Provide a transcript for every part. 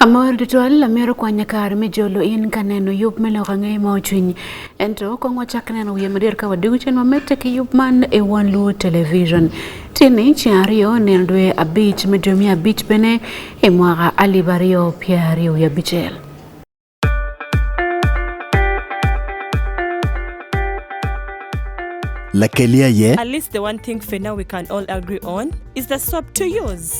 Amor tutwal lamero kwanya kar me jolo in kaneno yub me loko ang'e ma ochwiny ento kong wachak neno wiye madir ka wadigu chen mamete ki yub man e wan luo television tini ci ariyo neno dwe abich me dwe miya abich bene e mwaka alib ariyo pier ariyo wiye abicel Lakelia ye. At least the one thing for now we can all agree on is the swap to use.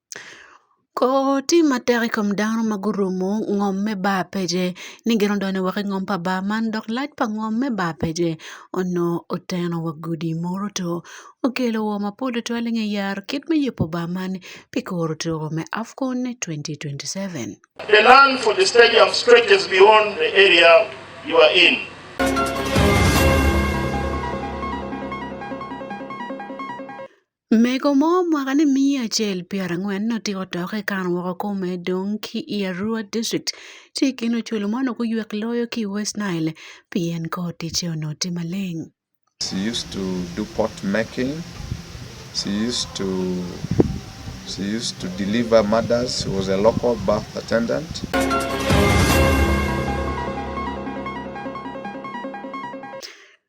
Koti matek i kom dano ma gurumo ngom me bar pece ni gin odone woko i ngom pa bar man dok lac pa ngom me bar pece onongo oteno wa gudi modo two okelo wor mapol tutwal i nge yaro kit me yubo bar man pi kuro tuko me AFCON 2027. Mego mo mwaka ni miya acel piero ang'wen notiko toke ikan woko kome dong ki i Arua District ci i kin oculu man okuywek loyo ki i West Nile pien kor ticce onongo tye maleng. She used to do pot making. She used to she used to deliver mothers. She was a local birth attendant.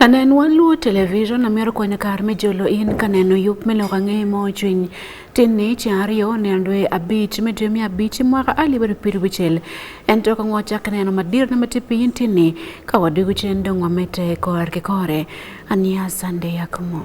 Anen waluo television amior kwanya kar me jolo in kaneno yup me loka ng'e mo chwiny tin ni ci ariyo ne andwe abich me dwe mi abich mwaka ali bado piru bichel en to ka ngwacha kaneno madir na mati pin tin ni ka wadu guchen dong wamete kor ke kore ania sande yakmo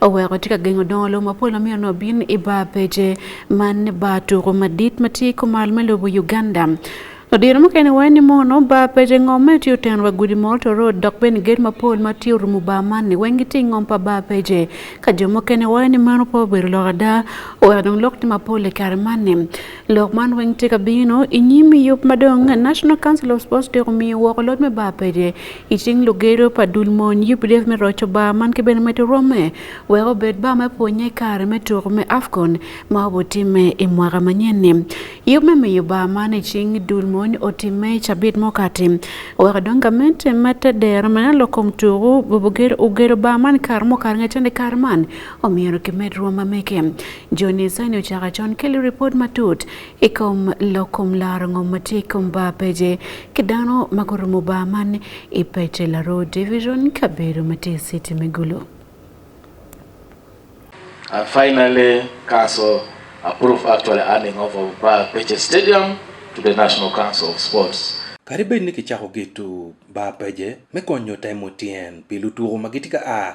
oweko tye ka gengo dongo lobo mapol ma mito nongo bin i bar pece man bar tuko madit ma tye i kumal me lobo Uganda Odiro mukene waye ni mono bar pece ngom ma tye oteno wa gudi moro to road dok bene gate mapol ma tye orumo bar man ni weng gitye i ngom pa bar pece ka jo mukene waye ni meno pe obedo lok ada oweko dong lok tye mapol i kare man ni lok man weng tye ka bino i nyim yub madong National Council of Sports tye omiyo woko lod me bar pece Iting lugedo pa dul mony UPDF me roco bar man ki bene medo rome wek obed bar me pwonye kare me tuko me AFCON ma obotime i mwaka manyen-ni. Yub me miyo bar man icing dul mony otime cabit mokati weko dong gament mete dero mena lokom tuku bubugedo ugedo bar man kare mokati nge cende kare man omyero kimed rwom mameke. Joni Sani ocaka con keli report matut i kom lokom laro ngom ma tye i kom ba pece ki dano ma gurumo ba man i pece laro division kabedo ma tye i city me gulu And finally, Council approved actually handing over Bar Peche Stadium to the National Council of Sports. Kadi bed ni kicako geto bar peje me konyo temo tyen pi lutuko ma gitye ka a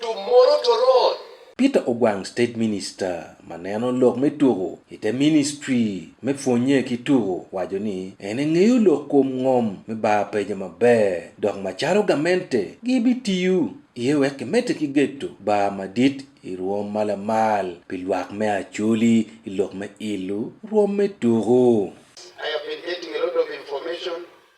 Tomorrow to roll. Peter Ogwang State Minister ma neno lok me tuko i te ministry me pwonnye ki tuko waco ni en engeyo lok kom ngom me bar peja maber dok macalo gamente gibitiyo iye wek kimedde ki geto bar madit i rwom ma lamal pi lwak me Acholi i lok me ilo rwom me tuko.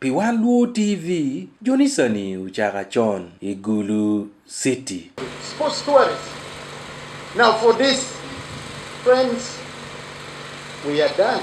Pi wan Luo TV, jonisani uchaka chon i Gulu City. Sports tourism. Now for this, friends, we are done.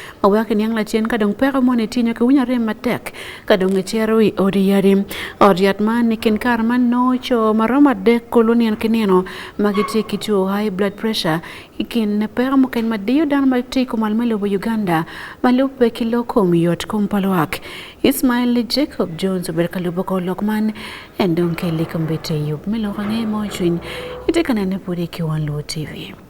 Awake niang' lachien ka dong peko mone tinyo ke winya rem matek ka dong e chero i odi yari. Odi yat man ni kin kar man no cho maroma dek kulu nien ki nino ma giti ki two high blood pressure i kin ne peko muken ma diyo dano ma ti kumal me lobo Uganda ma lubbe ki lok kom yot kom pa lwak. Ismail li Jacob Jones obedo ka lubo ko lok man en dong ke likom bete yub me lok ang'e mo cwiny ite ka nene pudi ki wan luo TV.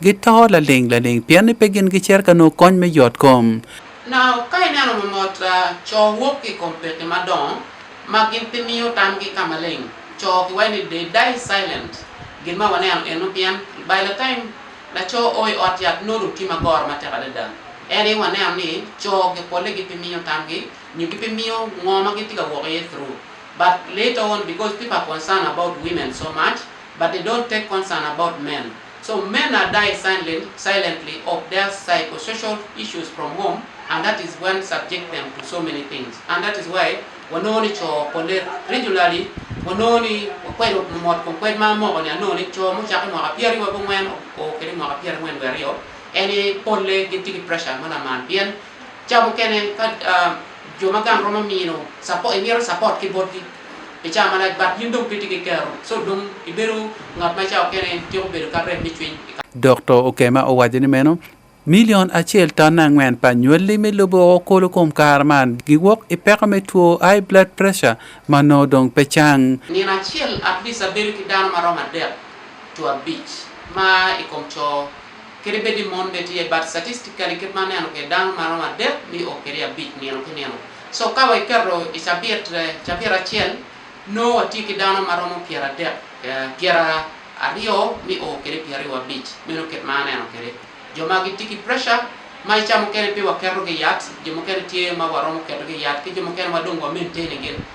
Gito laling laling pien ni pe gin gicer ka nongo kony me yot kom. Na ka ineno mamot co wok ki kom peke madongo ma gin pe miyo tamgi ka maleng, co ki waci ni they die silent. Gin ma waneno eno pien by the time laco oo i ot yat nongo dong tye ma goro matek adada. En aye waneno ni co gi pole gi pe miyo tamgi nyo gi pe miyo ngo ma gin tye ka wok iye through but later on because people are concerned about women so much but they don't take concern about men. So men are die silent, silently of their psychosocial issues from home and that is when subject them to so many things and that is why wanoni cho pole regularly wanoni kwero mot ko kwed ma mo ne anoni cho mo chako mo apiari wa bongwen o kere mo apiari ngwen werio eni pole gi tigi pressure mana man bien chamo kene ka uh, joma gang romo mino support, e miero support ki bodgi Icayo malac but yin dong piti ki kero, so dong ibedo ngat ma icayo kene tyeko bedo ka rem me cwiny. Doktor Okema owaco ni meno milion acel ton angwen pa nywelli me lobo o kolo kom kare man giwok i peko me two high blood pressure ma nongo dong pe cang. Nino acel at least abedo ki dano ma romo adek to abic ma i kom coo. Kede bedi mon bene tye but statistically kit ma neno ke dano ma romo adek ni o kede abic nino ki nino. So ka wa iketo i cabit eh, cabit acel no watye ki dano ma romo pyera adek eh, pyera aryo ni o kede pyera aryo abic meno kit ma aneno kede. Jo ma gitye ki pressure ma ica mukene pe waketogi yat, jo mukene tye ma waromo ketogi yat ki jo mukene ma dong wa maintain gin.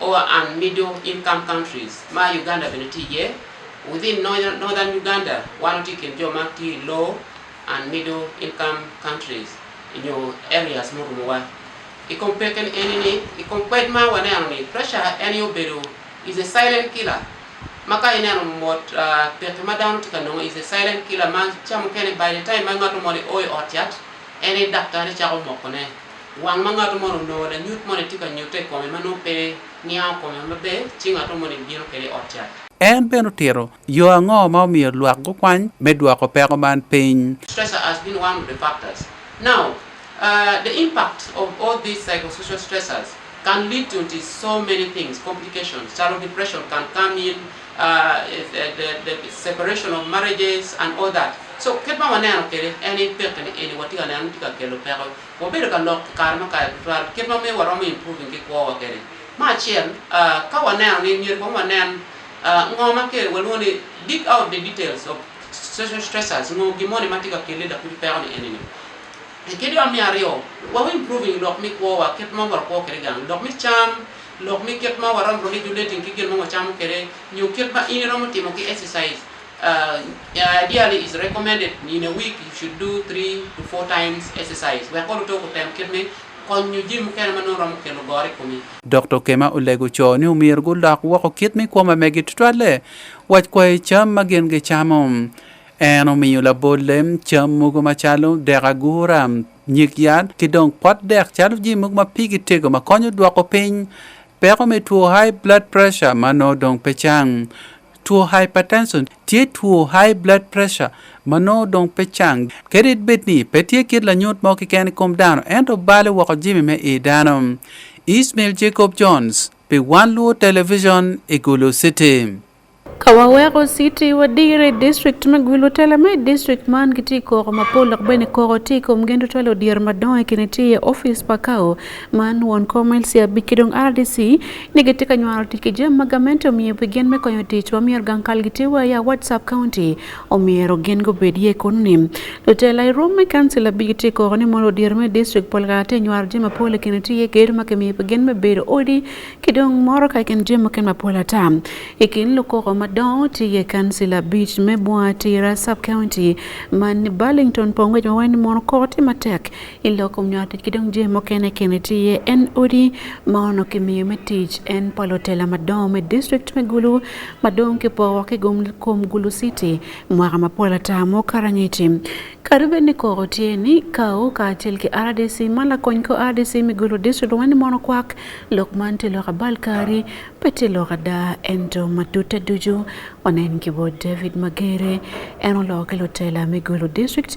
Lower and Middle Income Countries ma Uganda bende tije, within Northern Uganda wan wati kind jo ma ti Low and Middle Income Countries nyo areas morumowa. I compare ken eni ni, i compare ma waneno ni pressure en yo bedo is a silent killer ma ka ineno mot uh, peke ma dano ti ka nongo is a silent killer ma ca mukene by the time ma ngato moni oyo ot yat en i daktari cako mokone Wang ma ngat moni onongo lanyut moni tye ka nyute i kome ma nongo pe niango kome maber, ci ngat moni bino kwede i ot cat. En bene otito yo ango ma omiyo lwak gukwany me dwoko peko man piny? Stress has been one of the factors. Now, uh, the impact of all these psychosocial stressors can lead to nti so many things, complications, calo depression can come in, uh, if, uh, the, the separation of marriages and all that. So, kit ma waneno kwede en ni pekeni eni watye ka neno ni tye ka kelo peko Wabedo ka lok i kare ma kayo tutwal kit ma miyo waromo improving ki kwowa kene. Me acel, ka waneno ni myero kong wanen ngo ma ke walwongo ni dig out the details of social stressors, ngo gin moni ma tye ka kelle lakudi peko ni eni-ni. Kit yot me aryo, wa improving lok me kwowa kit ma wakwo kede gang, lok me cam, lok me kit ma waromo relating ki gin ma wacamo kede nyo kit ma in iromo timo ki exercise. Uh, yeah, ideally, it's recommended in a week you should do three to four times exercise. We are going to talk about time kidney. Dr. Kema olego co ni omir gulok woko kit mi kwoma megi tutwalle wac kwayo cam ma gin gicamo en omiyo labolle cam mogo macalo dek agura nyig yat ki dong pot dek calo ji mogo ma pigi tego ma konyo dwoko piny peko me two high blood pressure ma no dong pe cang Tuo hypertension tye tuo high blood pressure ma nongo dong pe cang. Kadi bed ni pe tye kit lanyut mo keken i kom dano, ento balo woko jami me i dano. Ismail Jacob Jones pi Wan Luo Television i Gulu City. Ka waweko city wadiro i district me Gulu tela me district man gitye koko mapol dok bene koko tye i kom gin tutwal odyero madongo i kine tye iye ofice pa kao man won komel sia bikidong RDC ni gitika nywaro tike je magamento miyo begin me konyo tich wa miyo gang kal gitiwa ya WhatsApp county o miyo gen go bedie konim to tell I room me council bigitiko ni mondo dir me district polgate nywar je mapole kene tiye ger ma ke miyo begin me bedo odi kidong moro ka ken je maken mapola ta ikin luko ko madon tiye council beach me bwa tira sub county man Burlington pongwe jwa wen mono koti matek iloko mnyate kidong je mokene kene tiye en odi ma ono kimiyo me tich en palo tela madong me district me gulu madong kipowa kigum kom gulu city mwaka mapol ata mukarangiti kadi bed ni koko tye ni kawo kacel ki rdc ma lakony ko rdc me gulu district wani mono kwak lok man tye lok abal kari pe tye lok ada ento matute ducu wanen ki bo david magere en oloko ki lutela me gulu district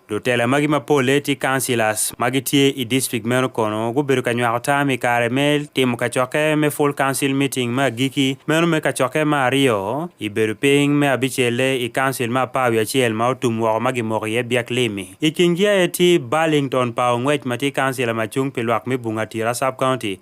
Lutela magi mapolle tye councillors ma gitye i district meno kono gubedo ka nywako tam i kare me timo kacokke me full council meeting me agiki meno me kacokke ma aryo i bedo piny me abicelle i council me apar wiye acel ma otum woko ma gimoko iye Biak Limi. I kingi aye tye Burlington Paul Ngwec ma tye councillor ma cung pi lwak me Bunga Tira sub county.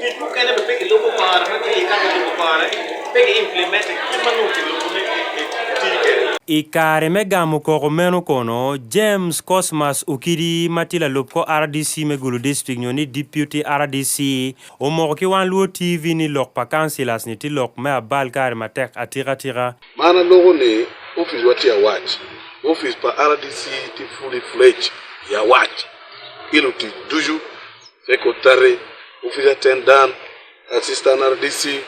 Dit boek kennen we pikken lopen maar, maar die kan we lopen maar. Pikken implementen, die man ook in lopen met I kare me gamo koko meno kono, James Cosmas Okidi ma tye lalup ko RDC me Gulu District nyo ni Deputy RDC omoko ki wan luo TV ni lok pa councilors ni tye lok me abal kare matek atika tika. Man aloko ni office wa tye awac, office pa RDC tye fully fledged i awac, ilutic ducu Secretary, Office Attendant, Assistant RDC,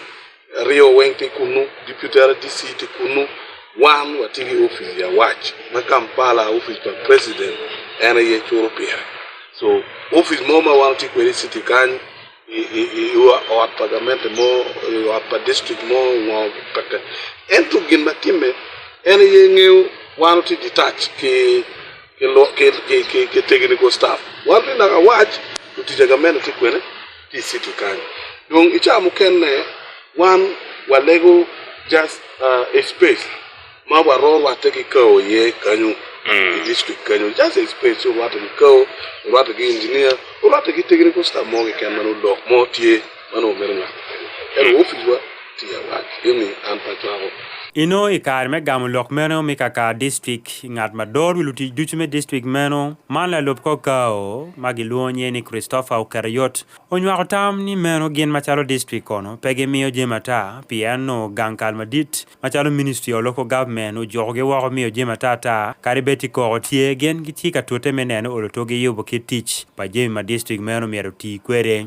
Rio Weng Tikunu, Deputy RDC Tikunu, wan watigi ofis ya wach ma Kampala ofis pa president en ye choro piere so ofis mo ma wan ti kwede city kany ot pa gament mo ot pa district mo ngo kaka en to gin matime en ye ng'eyo wan ti detach ki ke lo ke ke ke, ke technical staff wan ri naka wach to tija ga meno ti kwene ti city kanyo dong ichamo kenne wan walego just uh, a space ma waro rwate gi kawo ye kanyo Mm. i district kanyo just a space orwate gi kawo orwate gi engineer orwate gi technical staff mo gi ken mano dok mo tye Mano obedo ng'at makende. Ero ofijwa tiya wach imi an pachwago. Ino i kare me gamo lok meno mi kaka distrik ngat ma dor wi lutic ducu me distrik meno man lalub kor kao ma gilwongo nye ni Christopher Okereyot onywako tam ni meno gin macalo distrik kono pe gimiyo jami ata pien no gang kal madit macalo ministry of local government ojuko gi woko miyo jami ata ata kadi bed ti koko tye gin gitye ka tute me neno olo toggi yubo kit tic pa jami ma distrik meno myero oti kwede.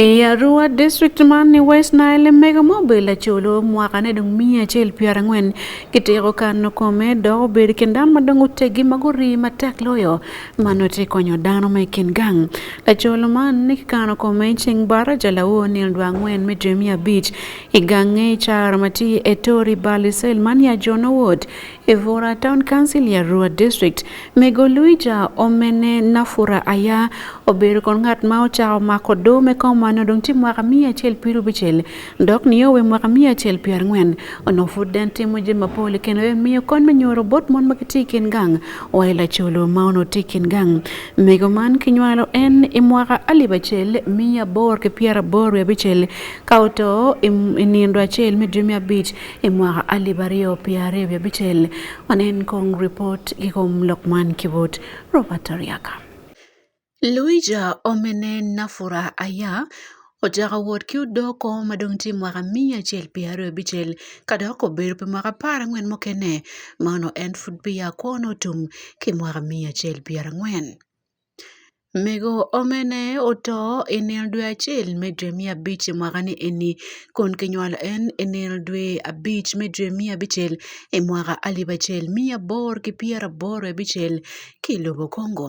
I Arua district man ni West Nile mega mo bela cholo mwaka ne dong mia achiel piero ang'wen kitiko kano kome dok obedo kin dano ma dong otegi ma guri matek loyo mano te konyo dano me kin gang lacolo man ni kikano kome cing bara jalawo nil dwa angwen me dwe miya abic i gange car ma tye e tori balisel man ya jono wod i bura town council ya rua district mego luija omene nafura aya obedo kon ngat ma ocako mako do me kom mano dong tye mwaka miya acel pirubicel Dok ni owe mwaka miya acel pier ang'wen ono fud den timo je mapole kendo e miyo kon me nyoro bot mon ma kiti kin gang wa ila cholo ma ono ti kin gang mego man kinywalo en i mwaka alib acel miya bor ki pier abor wi abicel ka oto i nindo acel me dwe me abic i mwaka alib aryo pier aryo wi abicel wanen kong report ki kom lok man ki bot Robert Ariaka. Luija omene Nafura Aya ocako wot ki odoko ma dong tye mwaka miya acel pi aryo bicel ka dok obedo pi mwaka apar angwen mukene ma ono en pud pi ya kwo no tum ki mwaka miya acel pi ara angwen. Mego omene oto i nino dwe acel me dwe miya abic i mwaka ni eni kun ki nywalo en i nino dwe abic me dwe miya abicel i mwaka alip acel miya abor ki pyer abor abicel ki lobo Kongo.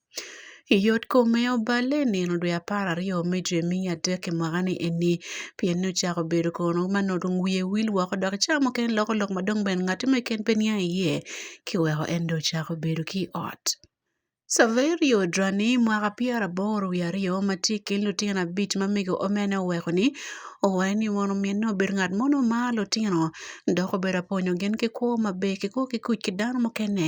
Yot kome oballe i nino dwe apar aryo me dwe me adek i mwaka-ni eni, pien ni ocako bedo kono ma nongo dong wiye wil woko dok i cawa mukene loko lok ma dong bene ngati mo keken pe niang iye, kiweko en dong ocako bedo ki i ot. Saverio Drani, mwaka pyera aboro wiye aryo, ma tye i kin lutino abic ma mego omene oweko ni, owaco ni mono minne obedo ngat mo ma omaro lutino dok obedo apwonyo gin ki kwo maber kikwo ki kuc ki dano mukene.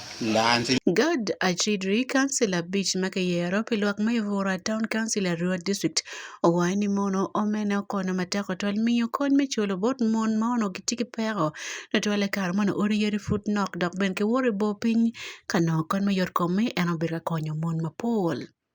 Gad acidri council abic ma kiyero pi lwak me Bura Town Council Arua District owayo ni mono omene okono matek otwal miyo kony me culo bot mon ma ono gitye ki peko na twale kare mono odi yadi pud nok dok bene kiworo i bor piny ka nongo kony me yot komme en obedo ka konyo mon mapol.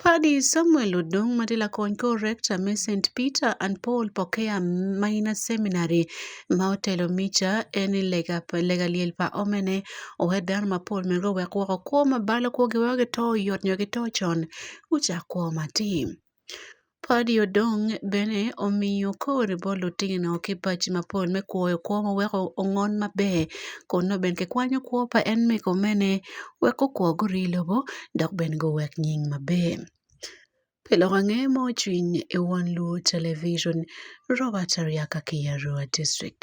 Paddy Samuel Odong Matila Kony kor Rector me St Peter and Paul Pokea Minor Seminary ma otelo mica en lega lega liel pa omene owe dano mapol mego wek woko kwo ma balo kwogi weko gito yot nyo gito con ucak kwo matim. Padi odong bene omiyo kor bol otegno ki pac mapol me kwoyo kwo ma weko ongon maber kun nongo bene kikwanyo kwo pa en me komene wek gukwo guri i lobo dok bene guwek nying maber. Pi lok ange ma ocwiny i won luwo television Robert Ariaka ki Arua district.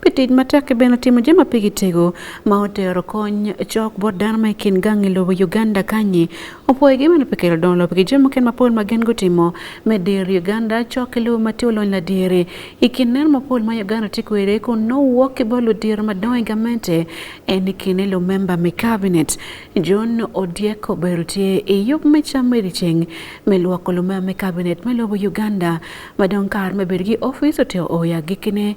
Petit matek bene otimo joma pigi tego ma otero kony chok bot dano ma ikin gang e lobo Uganda kanyi opwoye gi mano pekelo don lobo gi joma ken mapol ma gen gotimo me dir Uganda chok e lobo mati olony la dire ikin nen mapol ma Uganda ti kwere kun no wuok ki bolo dir madongo i gamente en ikin elo memba me cabinet John Odieko bero tye i yub me cam me riceng me lwoko lumema me cabinet me lobo Uganda madong kar me bedo gi ofis oteo oya gikine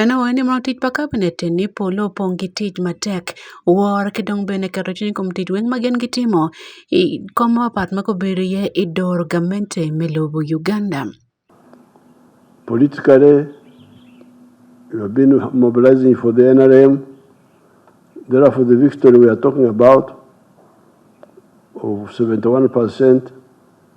Ene wene ma tij pa cabinet ni polo opong' gi tich matek. War ki dong bene keto cwiny kom tic weng ma gin gitimo. I kom ma papat ma gubedo iye i dor gamente me lobo Uganda. Politically, we have been mobilizing for the NRM. Therefore, the victory we are talking about of 71%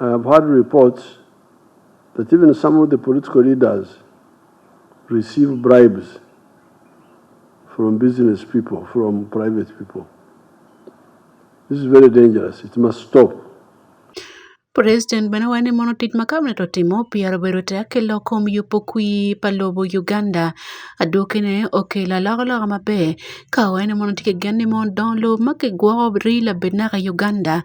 I have heard reports that even some of the political leaders receive bribes from business people, from private people. This is very dangerous. It must stop. President bene wacho ni mondo tich ma kabinet otimo opyero bedo te akelo kom yupo kwi pa lobo Uganda aduoke ne okelo alokaloka maber ka wacho ni mondo tye kegen ni mondo dong lobo ma kigwoko rii labed naka Uganda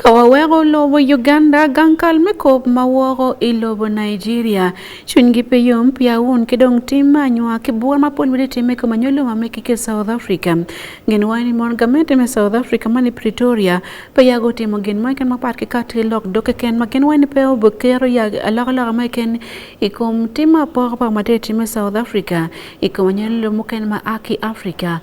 Ka waweko lobo Uganda gang kal me kop ma woko i lobo Nigeria, cwinygi pe yom pia wun ki dong tim me anywa ki bwor ma pol bedi timme kom anyo luma me kike South Africa. Gin wai ni mon gamente me South Africa man i Pretoria pe yago timo gin mo ken mapat ki kati lok dog keken ma gin wai ni pe obokero ya alok alok mo ken i kom tim ma poko poko ma tye timme South Africa i kom anyo lum muken ma a ki Africa.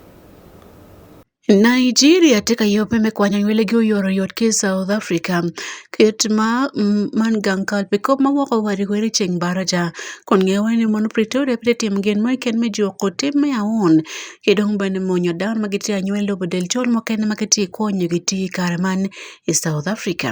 Nigeria tye ka yope me kwanyo anywelegi oyoro yot ki i South Africa kit ma man gang kal pi kop ma woko wa i wele ceng baraja kun ngeyo weng ni mono Pretoria pe tye timo gin mo keken me juko tim me aun ki dong bene monyo dano ma gitye anywel lobo del col mukene ma kitye ka konyogi tiyo i kare man i South Africa.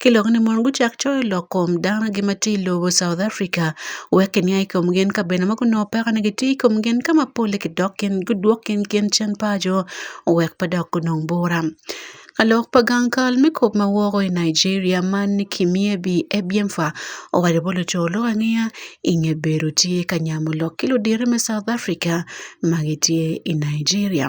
kilok ni mon guchak coyo lok kom dano gi ma tye i lobo South Africa wek kinia i kom gin ka bene ma gunongo peko ni gitye i kom gin ka ma polle kidok kin gudwok kin gin cen paco wek pe dok gunong bura. Ka lok pa gang kal me kop ma woko i Nigeria man ni Kimyebi Ebienfa owaco bot luco lok angeya i nge bedo tye ka nyamo lok ki ludito me South Africa ma gitye i Nigeria.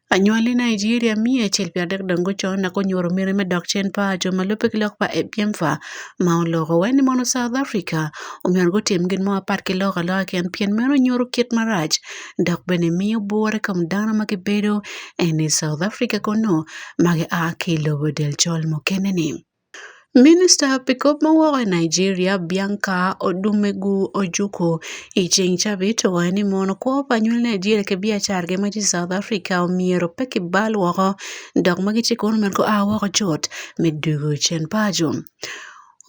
Anyuali Nigeria mia achiel piero adek dongo gochon na konyuoro mere me dok chen pa jo malupe ki lok pa e piem fa ma oloko weni mono South Africa omiyo go tim gin mo apat ki loko aloka ken pien meno nyuoro kit maraj dok bene miyo bwore kom dano ma gibedo eni South Africa kono ma gi a ki lobo del col mukene ni. Minista Pickup mowuok e Nigeria, Bianca Odumegwu Ojukwu, e chieng' tich abich to owacho ni mon kwop anyuola Nigeria ke biacar gi ma South Africa omiero pe ki bal woko dok ma gitye kono mere gua woko cut me dugu cen paco.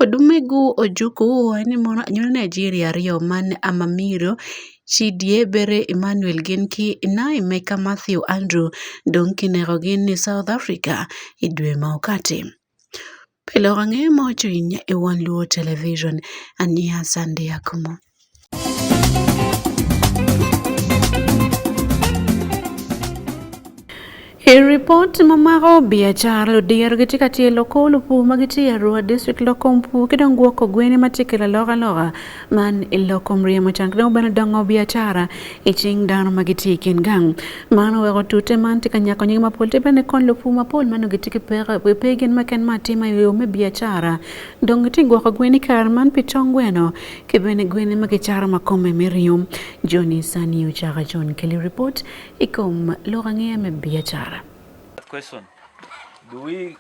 Odumegwu Ojukwu owacho ni mon anyuola Nigeria aryo ma Amamiro Chidiebere Emmanuel gin ki Naemeka Mathew Andrew dong kinekogi ni South Africa i dwe ma okati. Pile ok ang'eyo ma wacho ahinya e One Luo Television. An Nia Sande Akumo. E ripot ma maro biachara lodhier gitye ka tye loko lupu ma gitye i Arua district loko mpu ki dong gwoko gweni ma tye ki lalok aloka Man iloko mriyo macang dong bene dongo biacara i cing dano ma gitye i kin gang man oweko tute man tye ka nyako nying mapol te bene kon lupur mapol man gitye ki peko pe pe gin ma ken ma atima i yo me biacara dong gitye gwoko gweni kare man pi tong gweno ki bene gweni ma gicaro ma kome me ringo joni sani ocaka con keli ripot i kom lok angeya me biacara question do we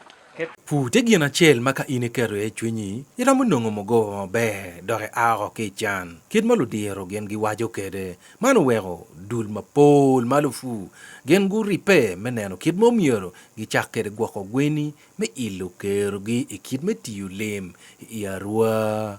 Pur tye gin acel ma ka in iketo iye cwinyi, iromo nongo mugoba maber dok ia oko ki i can. Kit ma ludiro gin giwaco kwede, man oweko dul mapol ma lupur gin guribbe me neno kit ma omyero gicak kwede gwoko gweni me ilo kerogi i kit me tiyo lim i Arua.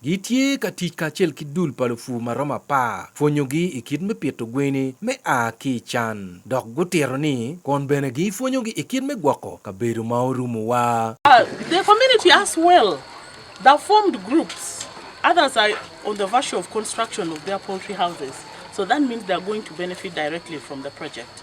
Gitye ka tic kacel ki dul pa lupur ma romo apar pwonyogi i kit me pito gweni me a ki i can, dok gutito ni kun bene gipwonyogi i kit me gwoko kabedo ma orumowa. The community as well, they've formed groups, others are on the virtue of construction of their poultry houses, so that means they're going to benefit directly from the project.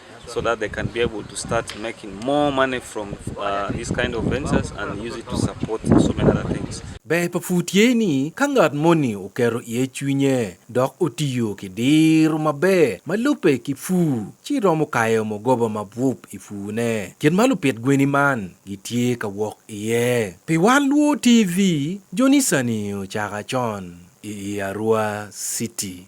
so that they can be able to start making more money from uh, these kind of ventures and use it to support so many other things. Be pa fut ye ni ka ngat moni okero ye chwinye dok otiyo ki diro maber ma lupe ki fu ci romo kayo mogoba ma bup i fune kit ma lupit gweni man gitye ka wok iye pi wan luo tv jonisani ocaka con i arua city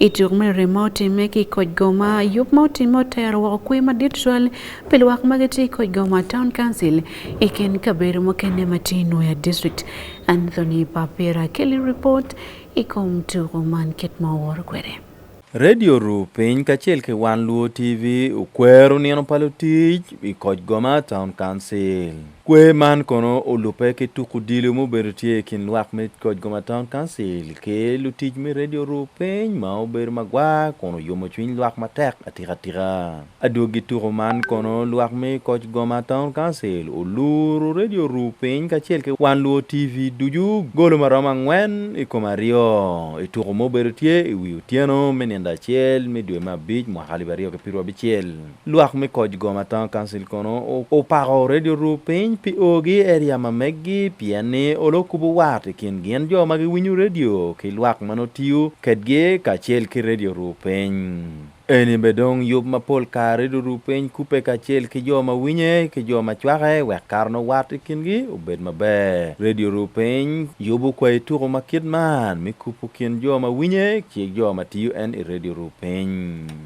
I tuk mere ma otimme ki i koc goma, yub ma otimme otero woko kwe madit twal pi lwak ma gitye i koc goma town council i kin kabedo mukene ma tye i Nwoya district. Anthony Papera keli ripot i kom tuko man kit ma oworo kwede. Radio Ru Piny kacel ki One Luo TV okwero nino pa lutic i koc goma town council. Kwer man kono olubbe ki tuk odilo ma obedo tye i kin lwak me koc Goma Town Council ki lutic me Radio Ru Piny ma obedo magwar kun oyomo cwiny lwak matek atikatika. Adwogi tuko man kono lwak me koc Goma Town Council oluro Radio Ru Piny kacel ki Wan Luo TV ducu golo ma romo angwen i kom aryo i tuko ma obedo tye i wi otyeno me nino acel me dwe me abic mwaka alip aryo ki pirwu abicel. Lwak me koc Goma Town Council kono opako Radio Ru piny pi ogi eria ma meggi pien ni olo kubu wat i kin gin jo ma giwinyo radio ki lwak ma notiyo kedgi kacel ki Radio Ru piny. Eni be dong yub ma pol kare Radio Ru piny kupe kacel ki jo ma winye ki jo ma cwake wek kare no wat i kingi obed maber. Radio Ru piny yubu kwai tuku ma kit man mi kupu kin jo ma winye ki jo ma tiyo en i Radio Ru piny.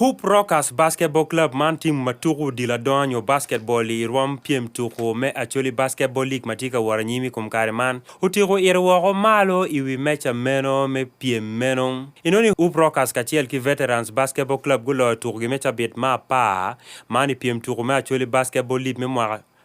Hoop Rockers Basketball Club man tim ma tuko odilo adonga nyo basketball i rwom pyem tuko me Acholi Basketball League ma tye ka woro anyim i kom kare man otiko ire woko malo i wi meca meno me pyem meno. Inoni Hoop Rockers kacel ki Veterans Basketball Club guloyo tukogi me cabit ma apar man i pyem tuko me Acholi Basketball League me mwaka